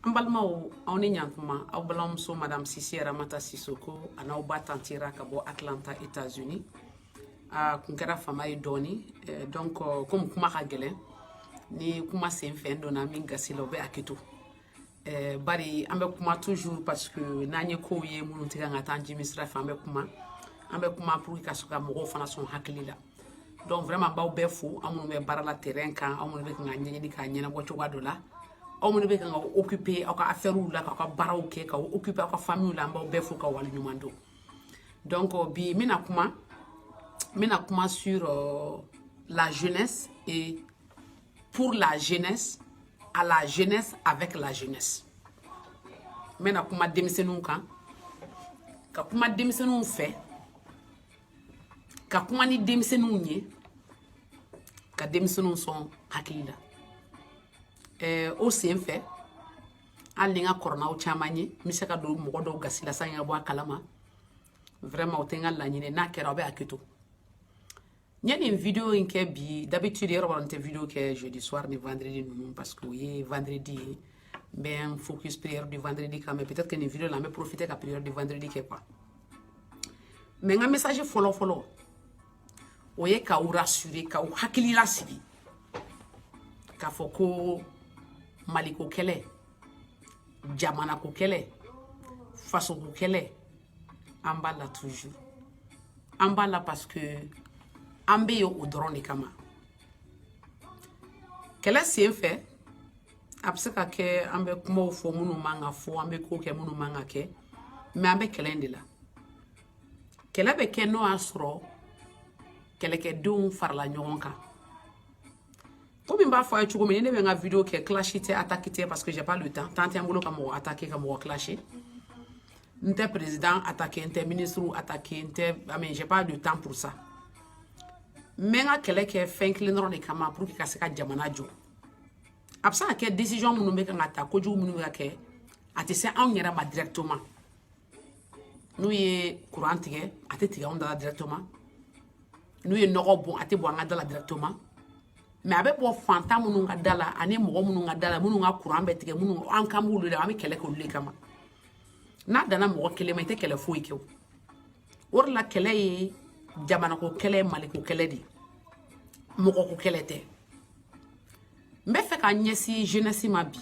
an balimaw aw ni yan tuma aw balimamuso madame sise aramata sisoko an'aw ba tanti ra ka bɔ atlanta états unis a kun kɛra fama ye dɔɔni eh, donc euh, komi kuma ka gɛlɛn ni kuma sen fɛ n donna min gasi la o bɛ hakɛto eh, bari an bɛ kuma toujours parce que n'an ye kow ye minnu tɛ kan ka taa an jimi sira fɛ an bɛ kuma an bɛ kuma pour que ka sɔrɔ ka mɔgɔw fana sɔn hakili la donc vraiment n b'aw bɛɛ fo aw minnu bɛ baara la terrain kan aw minnu bɛ kan k'a ɲɛɲini k'a ɲɛnabɔ cogoya dɔ la aw minnu bɛ kan ka occuper aw ka affaires la k'aw ka baaraw kɛ k'aw occuper aw ka famille la an b'aw bɛɛ fo ka wale ɲuman dɔn donc euh, bi n bɛna kuma n bɛna kuma sur euh, la jeunesse et pour la jeunesse à la jeunesse avec la jeunesse n bɛna kuma denmisɛnninw kan ka kuma denmisɛnninw fɛ ka kuma ni denmisɛnninw ye ka denmisɛnninw sɔn hakili la ɛɛ o sen fɛ hali ni n ka kɔrɔ n'aw caman ye n bɛ se ka don mɔgɔ dɔw gasi la sans ka bɔ a kalama vraiment o tɛ n ka laɲini n'a kɛra aw bɛ hakɛto n ye nin video in kɛ bi d'habitude yɛrɛ la n tɛ video kɛ jeudi soir ni vendredi ninnu parce que o ye vendredi ye n bɛ n focus prière du vendredi kan mais peut-être que nin video la n bɛ profiter ka prière du vendredi kɛ quoi mɛ n ka mesaje fɔlɔ fɔlɔ o ye k'aw rasure k'aw hakili lasigi k'a fɔ ko maliko kɛlɛ jamanako kɛlɛ fasoko kɛlɛ an b'a la toujours an b'a la parce que an bɛ yen o dɔrɔn de kama kɛlɛ sen fɛ a bɛ se ka kɛ an bɛ kumaw fɔ minnu man ka fɔ an bɛ kow kɛ minnu man ka kɛ mɛ an bɛ kɛlɛ in de la kɛlɛ bɛ kɛ n'o y'a sɔrɔ kɛlɛkɛdenw farala ɲɔgɔn kan komi n b'a fɔ aw ye cogo min ni ne bɛ n ka video kɛ clash tɛ attaque tɛ parce que j'ai pas le temps temps tɛ n bolo ka mɔgɔ attaque ka mɔgɔ clasher n tɛ président attaque n tɛ ministre attaque n tɛ mais j'ai pas le temps pour ça n bɛ n ka kɛlɛ kɛ fɛn kelen dɔrɔn de kama pour que ka se ka jamana jɔ a bɛ se ka kɛ decision minnu bɛ kan ka ta kojugu minnu bɛ ka kɛ a tɛ se anw yɛrɛ ma directement n'u ye kuran tigɛ a tɛ tigɛ anw da la directement n'u ye nɔgɔ bɔn a tɛ bɔn an ka da la directement mɛ a bɛ bɔn fantan minnu ka da la ani mɔgɔ minnu ka da la minnu ka kuran bɛ tigɛ minnu an kan b'olu de an bɛ kɛlɛ kɛ olu de kama n'a danna mɔgɔ kelen ma i tɛ kɛlɛ foyi kɛ o o de la kɛlɛ ye jamanako kɛlɛ maliko kɛlɛ de ye mɔgɔko kɛlɛ tɛ n bɛ fɛ ka ɲɛsin jeunesse ma bi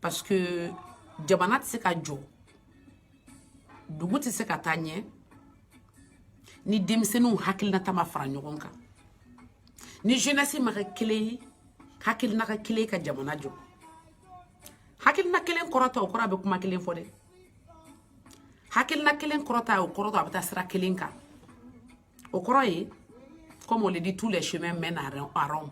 parce que jamana tɛ se ka jɔ dugu tɛ se ka taa ɲɛ ni denmisɛnninw hakilinata ma fara ɲɔgɔn kan ni jeunesse ma kɛ kelen ye hakilina ka kelen ka jamana jɔ hakilina kelen kɔrɔ tɛ o kɔrɔ a bɛ kuma kelen fɔ dɛ hakilina kelen kɔrɔ tɛ o kɔrɔ tɛ a bɛ taa sira kelen kan o kɔrɔ ye comme on le dit tous les chemins mènent à Rome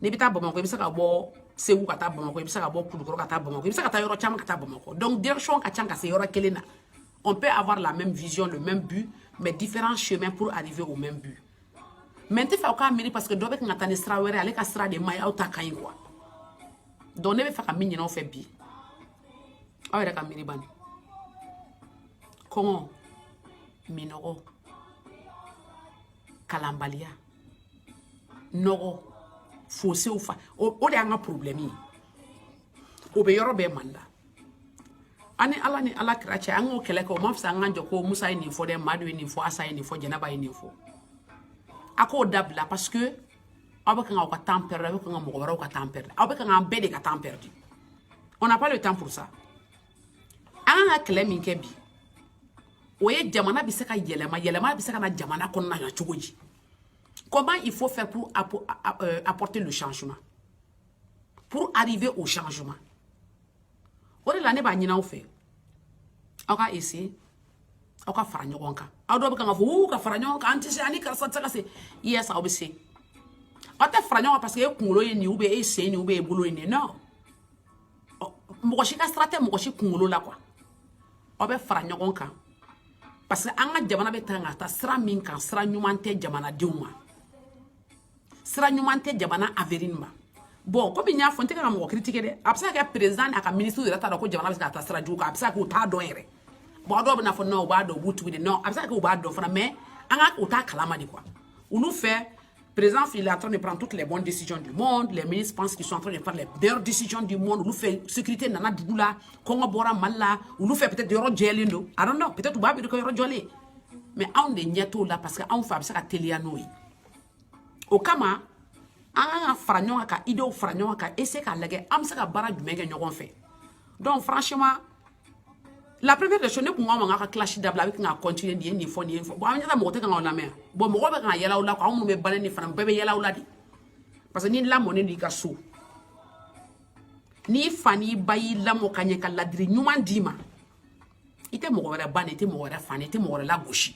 n'i bɛ taa bamakɔ i bɛ se ka bɔ segu ka taa bamakɔ i bɛ se ka bɔ kulukɔrɔ ka taa bamakɔ i bɛ se ka taa yɔrɔ caman ka taa bamakɔ donc direction ka ca ka se yɔrɔ kelen na on peut avoir la même vision le même but mais différents chemins pour arriver au même but mais n tɛ fɛ aw k'a miiri parce que dɔ bɛ kan ka taa ni sira wɛrɛ ale ka sira de man ɲi aw ta ka ɲi quoi donc ne bɛ fɛ ka min ɲini aw fɛ bi aw yɛrɛ ka miiri bani kɔngɔ minnɔgɔ kalanbaliya nɔgɔ fosew fa o de y'an ka problɛmi ye o bɛ yɔrɔ bɛɛ mali la a ni ala ni ala kira cɛ an k'o kɛlɛ kɛ o ma fisa an k'an jɔ ko musa ye nin fɔ dɛ madu ye nin fɔ asa ye nin fɔ jɛnɛba ye nin fɔ a k'o dabila parce que aw bɛ kan k'aw ka temps perdre aw bɛ kan ka mɔgɔ wɛrɛw ka temps perdre aw bɛ kan k'an bɛɛ de ka temps perdre on n'a pas le temps pour ça an kan ka kɛlɛ min kɛ bi o ye jamana bɛ se ka yɛlɛma yɛlɛma bɛ se ka na jamana kɔnɔna na cogo di comment il faut faire pour euh, apporter le changement pour arriver au changement o de la ne b'a ɲini aw fɛ aw ka ese aw ka fara ɲɔgɔn kan aw dɔw bɛ kan k'a fɔ uu ka fara ɲɔgɔn kan an tɛ se an ni karisa tɛ se ka se yes aw bɛ se aw tɛ fara ɲɔgɔn kan parce que e kunkolo ye nin ou bien e sen nin ou bien e bolo ye nin non mɔgɔ si ka sira tɛ mɔgɔ si kunkolo la quoi aw bɛ fara ɲɔgɔn kan parce que an ka jamana bɛ taa ka taa sira min kan sira ɲuman tɛ jamanadenw ma sira ɲuman tɛ jamana avenir ma bon comme n y'a fɔ n tɛ ka mɔgɔ critiquer dɛ a bɛ se ka kɛ président n'a ka ministre yɛrɛ t'a dɔn ko jamana bɛ se ka taa sira jugu kan a bɛ se ka kɛ u t'a dɔn yɛrɛ bon a dɔw bɛna fɔ non u b'a dɔn u b'u tugu de non a bɛ se ka kɛ u b'a dɔn fana mais nka u t'a kalama de quoi olu fɛ président il est en train de prendre toutes les bonnes décisions du monde les ministres pensent qu'ils sont en train de prendre les meilleures décisions du monde olu fɛ sécurité nana dugu la kɔngɔ bɔra mali la olu fɛ peut-être yɔrɔ jɛlen don i don't know peut-être u b'a miiri ko yɔrɔ jɔlen mais anw de ɲɛ t'o la parce que anw fɛ a bɛ se ka teliya n'o ye o kama an kan ka fara ɲɔgɔn kan ka idew fara ɲɔgɔn kan ka essayer k'a lajɛ an bɛ se ka baara jumɛn kɛ ɲɔgɔn fɛ donc franchement la première des choses ne tun k'a ma k'a ka clash dabila a bɛ ka continuer nin ye nin fɔ nin ye nin fɔ bon an ɲɛ tɛ mɔgɔ tɛ kan k'aw lamɛn bon mɔgɔ bɛ kan ka yɛlɛ aw la aw minnu bɛ ba neni ni fa neni bɛɛ bɛ yɛlɛ aw la de parce que n'i lamɔnen don i ka so n'i fa n'i ba y'i lamɔ ka ɲɛ ka ladiri ɲuman d'i ma i tɛ mɔgɔ wɛrɛ ba neni i tɛ mɔgɔ wɛrɛ fa neni i tɛ mɔgɔ wɛrɛ lagosi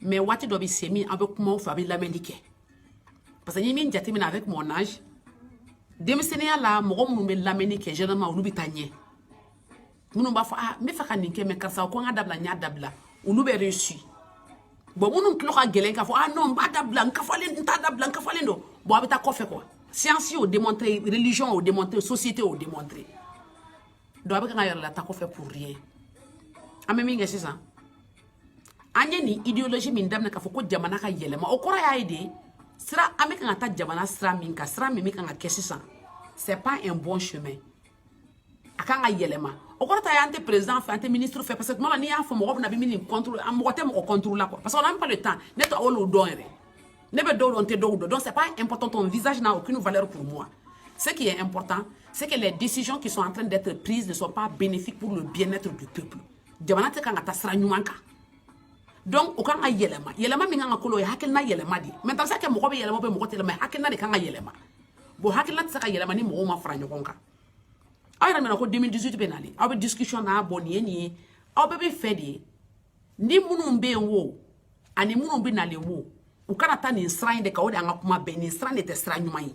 mais waati dɔ bɛ se min an bɛ kuma aw fɛ a bɛ lamɛnni kɛ parce que n ye min jateminɛ avec mon âge denmisɛnninya la mɔgɔ minnu bɛ lamɛnni kɛ généralement olu bɛ taa ɲɛ minnu b'a fɔ ah n bɛ fɛ ka nin kɛ mais karisa ko n ka dabila n y'a dabila olu bɛ réussi bon minnu tulo ka gɛlɛn k'a fɔ ah non n b'a dabila n kafalen n t'a dabila n kafalen don bon a bɛ taa kɔfɛ quoi science y'o démontré religion y'o démontré société y'o démontré donc a bɛ kan k'a yɛrɛ lataa kɔfɛ pour rien an bɛ min kɛ sisan an ye nin idéologie min daminɛ k'a fɔ ko jamana ka yɛlɛma o kɔrɔ y'a ye de sira an bɛ kan ka taa jamana sira min kan sira min bɛ kan ka kɛ sisan c'est pas un bon chemin a kan ka yɛlɛma o kɔrɔ t'a ye an tɛ président fɛ an tɛ ministre fɛ parce que tuma la n'i y'a fɔ mɔgɔ bɛna bɛ min nin contrôle an mɔgɔ tɛ mɔgɔ contrôle la quoi parce que on n'a pas le temps ne tɛ olu dɔn yɛrɛ ne bɛ dɔw dɔn n tɛ dɔw dɔn donc c'est pas important ton visage n'a aucune valeur pour moi ce qui est important c'est que les décisions qui sont en train d'être prises ne sont pas bénéfiques pour le bien-être du peuple jamana tɛ kan ka taa sira ɲuman kan donc o kan ka yɛlɛma yɛlɛma min kan ka kɛ o ye hakilina yɛlɛma de maintenant est-ce que mɔgɔ bɛ yɛlɛma bɛ mɔgɔ tɛ yɛlɛma hakilina de kan ka yɛlɛma bon hakilina tɛ se ka yɛlɛma ni mɔgɔw ma fara ɲɔgɔn kan aw yɛrɛ mɛna ko 2018 bɛ nalen aw bɛ discussion na bon nin ye nin ye an bɛ min fɛ de ye ni minnu bɛ yen wo ani minnu bɛ nalen wo u kana taa nin sira in de kan o de y'an ka kuma bɛɛ nin sira de tɛ sira ɲuman ye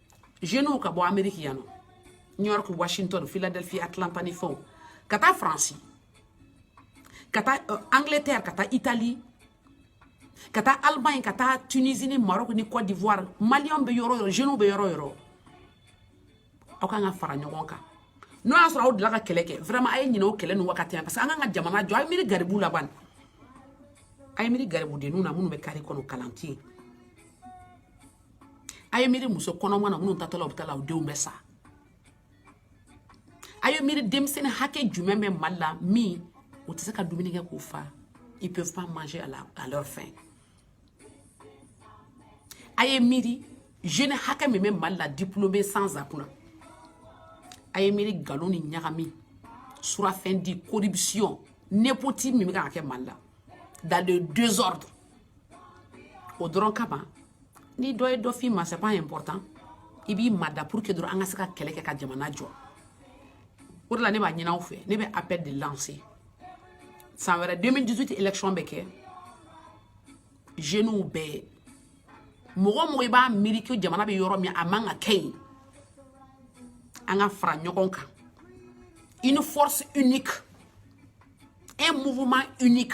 jeunes ka bɔ amérique yan nɔ new york washington philadelphia atlanta ni fɛnw ka taa france ka taa uh, angleterre ka taa italie ka taa allemagne ka taa tunisie ni maroc ni côte d'ivoire maliyɛnw bɛ yɔrɔ yɔrɔ jeunes bɛ yɔrɔ yɔrɔ aw kan ka fara ɲɔgɔn kan n'o y'a sɔrɔ aw delila ka kɛlɛ kɛ vraiment a ye ɲinɛ o kɛlɛ nin wagati la parce que an kan ka jamana jɔ a ye miiri garibu la bani a ye miiri garibudenninw na minnu bɛ carré kɔnɔ kalan tɛ yen a ye miiri muso kɔnɔmaw na minnu taatɔ la u bɛ t'a la u denw bɛ sa a ye miiri denmisɛnnin hakɛ jumɛn bɛ mali la min u tɛ se ka dumuni kɛ k'u fa ils peuvent pas manger à, la, à leur faim a ye miiri jeune hakɛ min bɛ mali la diplômé sans emploi na a ye miiri nkalon ni ɲagami surafɛn di corruption népotisme min bɛ ka kɛ mali la dans le désordre o dɔrɔn kama ni dɔ ye dɔ f'i ma c'est pas important i b'i mada pour que dɔrɔn an ka se ka kɛlɛ kɛ ka jamana jɔ o de la ne b'a ɲini aw fɛ ne bɛ appel de lancer san wɛrɛ 2018 élection bɛ kɛ jeunew bɛɛ mɔgɔ o mɔgɔ i b'a miiri ko jamana bɛ yɔrɔ min a man ka kɛ yen an ka fara ɲɔgɔn kan une force unique un mouvement unique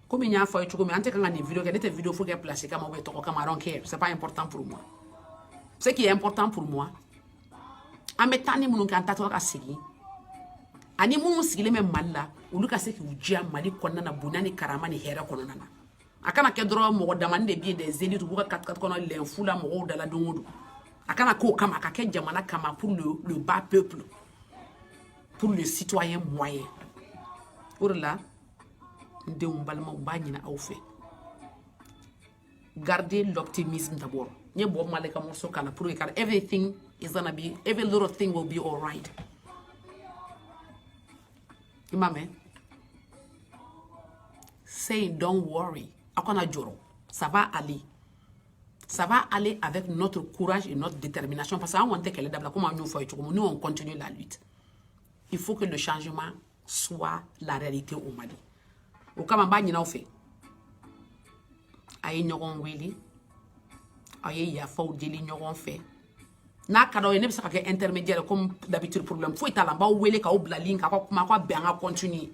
komi n y'a fɔ a ye cogo min n tɛ kan ka nin video kɛ ne tɛ video foyi kɛ place kama ou bien tɔgɔ kama I don't care c'est pas important pour moi ce qui est important pour moi an bɛ taa ni minnu kɛ an taatɔ ka segin ani minnu sigilen bɛ mali la olu ka se k'u diya mali kɔnɔna na bonya ni karama ni hɛrɛ kɔnɔna na a kana kɛ dɔrɔn mɔgɔ damanin de bɛ yen des élites b'u ka katikati kɔnɔ lɛnfu la mɔgɔw da la don o don a kana k'o kama a ka kɛ jamana kama pour le, le bas peuple pour le citoyen moyen o de la n denw n balimaw n b'a ɲini aw fɛ gardez l'optimisme d'abord n ye Bob Marley ka morceau k'a la pour que kari everything is gonna be every little thing will be all right i m'a mɛn say don't worry aw kana jɔrɔ ça va aller ça va aller avec notre courage et notre détermination parce que an kɔni tɛ kɛlɛ dabila komi an y'o fɔ a ye cogo min nous on continue la lutte il faut que le changement soit la réalité au Mali o kama n b'a ɲin'aw fɛ a ye ɲɔgɔn wele aw ye yafaw deli ɲɔgɔn fɛ n'a ka d'aw ye ne bɛ se ka kɛ intermédiaire comme d'habitude problème foyi t'a la n b'aw wele k'aw bila link k'aw ka kuma aw ka bɛn an ka continuer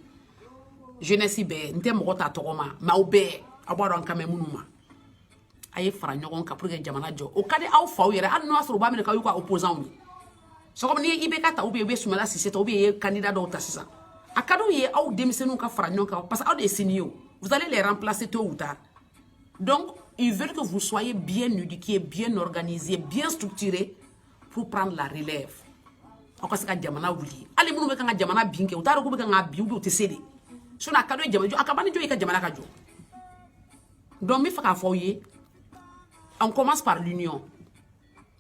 jeunesse bɛɛ n tɛ mɔgɔ ta tɔgɔ ma mais aw bɛɛ aw b'a dɔn an kan bɛ minnu ma a ye fara ɲɔgɔn kan pour que jamana jɔ o ka di aw faw yɛrɛ hali n'o y'a sɔrɔ u b'a minɛ k'aw y'u ka opposants ye c'est comme ni IBK ta ou bien i bɛ sumala sise ta ou bien i ye candidat dɔw ta sisan a ka d'u ye aw denmisɛnninw ka fara ɲɔgɔn kan parce que aw de ye sini ye o vous allez les remplacer tôt ou tard donc ils veulent que vous soyez bien éduqués bien organisés bien structurés pour prendre la relève aw ka se ka jamana wuli hali minnu bɛ kan ka jamana bin kɛ u t'a dɔn k'u bɛ kan ka bin ou bien u tɛ se de sinon a ka d'u ye jamana jɔ a ka ban ni jɔ ye ka jamana ka jɔ Donc, n bɛ fɛ k'a fɔ aw ye on commence par l'union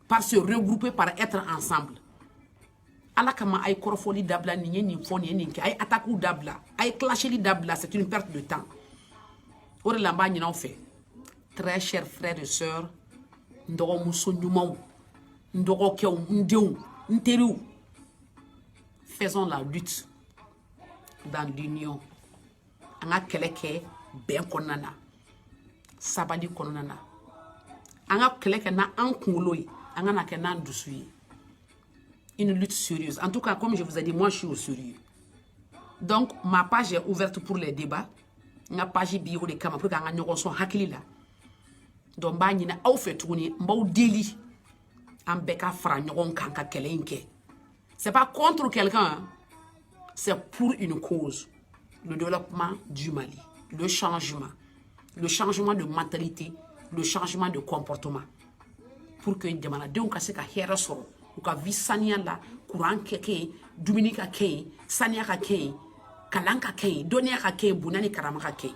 par se regrouper par être ensemble ala kama a ye kɔrɔfɔli dabila nin ye nin fɔ nin ye nin kɛ a ye attaquew dabila a ye clasheli dabila c'est une perte de temps o de la n b'a ɲin'aw fɛ très chers frères et sœurs n dɔgɔmuso ɲumanw n dɔgɔkɛw n denw n teriw faisons la lutte dans l'union an ka kɛlɛ kɛ bɛn kɔnɔna na sabali kɔnɔna na an ka kɛlɛ kɛ n'an kunkolo ye an kan'a kɛ n'an dusu ye une lutte sérieuse en tout cas comme je vous ai dit moi je suis au sérieux donc ma page est ouverte pour les débats n ka page bi o de kama pour que an ka ɲɔgɔn sɔn hakili la donc n b'a ɲini aw fɛ tuguni n b'aw deli an bɛɛ ka fara ɲɔgɔn kan ka kɛlɛ in kɛ C'est pas contre quelqu'un, hein. c'est pour une cause. Le développement du Mali, le changement, le changement de mentalité, le changement de comportement. Pour que jamanadenw ka se ka hɛrɛ sɔrɔ u ka vi saniya la kuran ka kɛ yen dumuni ka kɛ yen saniya ka kɛ yen kalan ka kɛ yen dɔnniya ka kɛ yen bonya ni karama ka kɛ yen